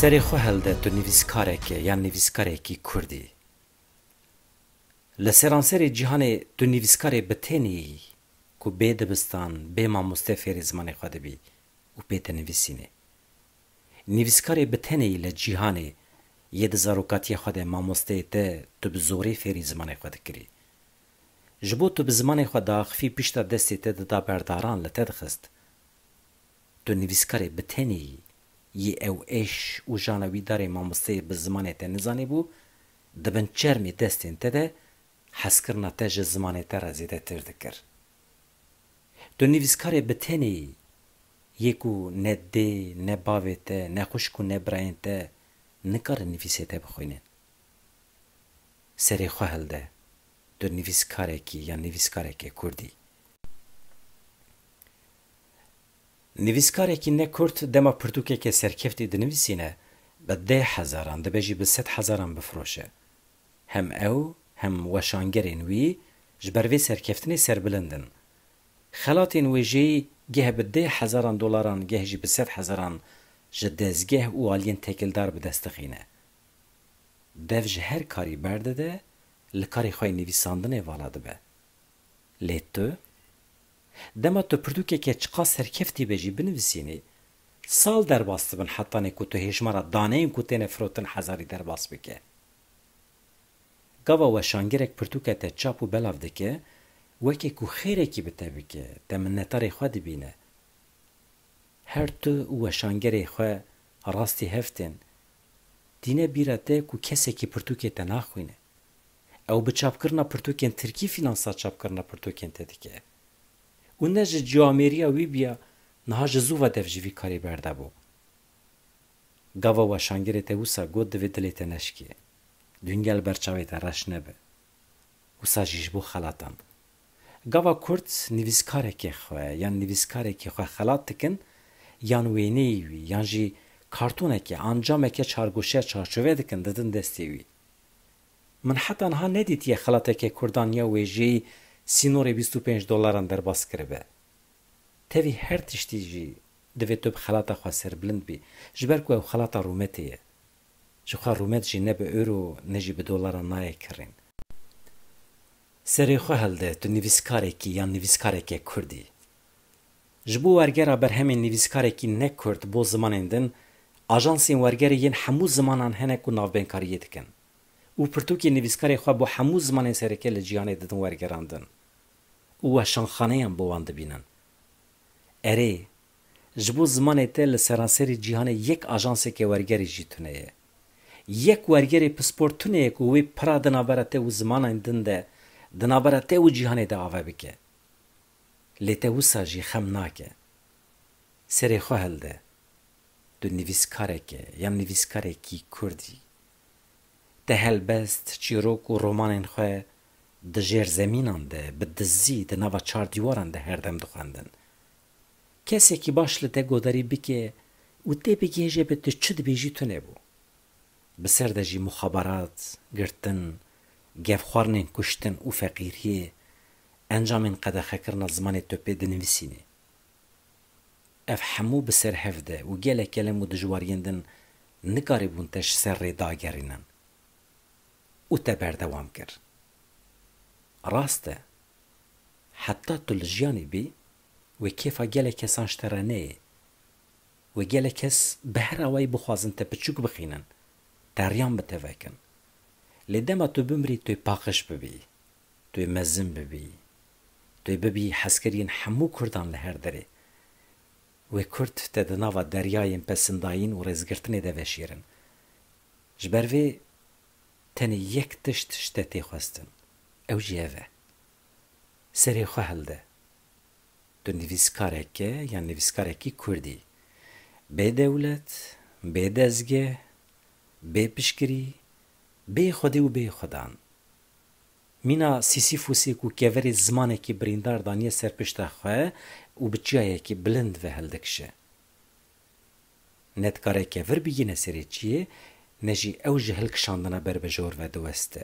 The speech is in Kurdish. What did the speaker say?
Serê xwe hilde tu nivîskarekê yan nivîskarekî Kurd î. Li seranserê cîhanê tu nivîskarê bi tenê yî ku bê dibistan, bê mamoste fêrê zimanê xwe dibî û pê dinivîsînê. Nivîskarê bi tenê yî li cîhanê yê di zarokatiyê xwe de mamosteyê te tu bi zorê fêrî zimanê xwe dikirî. Ji bo tu bi zimanê xwe diaxivî pişta destê te dida berdaran li te dixist. Tu nivîskarê bi tenê yî. Yê ew êş û jana wî darê mamosteyê bi zimanê te nizanîbû, di bin çermê destên te de hezkirina te ji zimanê te re zêdetir dikir. Tu nivîskarê bi tenê yî. Yê ku ne dê, ne bavê te, ne xwişk û ne birayên te nikarin nivîsê te bixwînin. serê xwe hilde, tu nivîskarekî yan nivîskarekê kurd î. Nivîskarekî ne kurd dema pirtûkeke serkeftî dinivîsîne bi dê hezaran dibe jî bi sed hezaran bifiroşe. Hem ew hem weşangerên wî ji ber vê serkeftinê serbilind in. Xelatên wêjeyî geh bi dê hezaran dolaran geh jî bi sed hezaran ji dezgeh û aliyên tekildar bi dest dixîne. Dev ji her karî berdide, li karê xwe yê nivîsandinê vala dibe. Lê tu? Dema tu pirtûkeke çiqas serkeftî be jî binivisînî, sal derbas dibin hetanê ku tu hêjmara daneyên ku têne firotin hezarî derbas bike. Gava weşangirek pirtûke te çap û belav dike, weke ku xêrekî bi te bike, te minnetarê xwe dibîne. Her tu û weşangerê xwe rastî hev tên. Tîne bîra te ku kesekî pirtûkê te naxwîne. Ew bi çapkirina pirtûkên tirkî fînansa çapkirina pirtûkên te dike. Û ne ji cî amêriya wî bîya niha ji zû ve dev ji vî karî berde bû. Gava weşangirê te wisa got divê dilê te neşikê. Dûngel ber çavê te reş nebe. wisa jî ji bo xelatan bû. Gava Kurd nivîskarekê xwe yan nivîskarekî xwe xelat dikin yan wêneyî wî yan jî kartoneke, ancameke çargoşeya çarçove dikin didin destê wî. Min heta niha nedîtiye xelateke Kurdan ya wêjeyî sînorê bîst û pênc dolaran derbas kiribe. Tevî her tiştî jî divê tu bi xelata xwe serbilind bî ji ber ku ew xelata rûmetê ye. Jixwe rûmet jî ne bi euro ne jî bi dolara nayê kirîn. Serê xwe hilde tu nivîskarek î yan nivîskareke kurd î. Ji bo wergera berhemên nivîskarekî ne kurd bo zimanên din, ajansên wergerê yên hemû zimanan hene ku navbênkariyê dikin û pirtûkên nivîskarê xwe bo hemû zimanên sereke li cîhanê didin wergerandin û weşanxaneyan bo wan dibînin. Erê, Ji bo zimanê te li seranserî cîhanê yek ajanseke wergerî jî tune ye. Yek wergerê pispor tune ye ku wê pira di navbera te û zimanên din de, di navbera te û cîhanê de ave bike. Lê te wisa jî xem nake. Serê xwe hilde. Tu nivîskarek î yan nivîskarekî kurd î. Te helbest, çîrok û romanên xwe di jêrzemînan de, bi dizî, di nava çar dîwaran de her dem dixwendin. Kesekî baş li te godarî bike û tê bigihêje be tu çi dibêjî tune bû. Bi ser de jî muxabarat, girtin, gevxwarinên kuştin û feqîriyê encamên qedexekirina zimanê topê dinivîsînê. Ev hemû bi ser hev de û gelek kelem û dijwariyên din nikarîbûn te ji ser rê dagerînin. û te berdewam kir. Rast e, heta tu li jiyanê bî, wê kêfa gelek kesan ji te re neyê. Wê gelek kes bi her awayî bixwazin te piçûk bixînin, teriyan bi te vekin. Lê dema tu bimirî tu ê paqij bibî, tu ê mezin bibî, tu ê bibî hezkir yên hemû kurdan li her derê. Wê kurd te di nava deryayên pesindayîn û rêzgirtinê de veşêrin. Ji ber vê tenê yek tişt ji te tê xwestin, ew jî ev e, serê xwe hilde. Tu nivîskareke yan nivîskarekî kurd î. Bê dewlet, bê dezgeh, bê piştgirî, bê xwedê û bê xwedan. Mîna Sîsîfûsê ku keverê zimanekî birîndar daniye ser pişta xwe û bi çiyayekî bilind ve hildikişe. Ne dikare kevir bigihîne serê çiyê, ne jî ew ji hilkişandina ber bi jor ve diweste.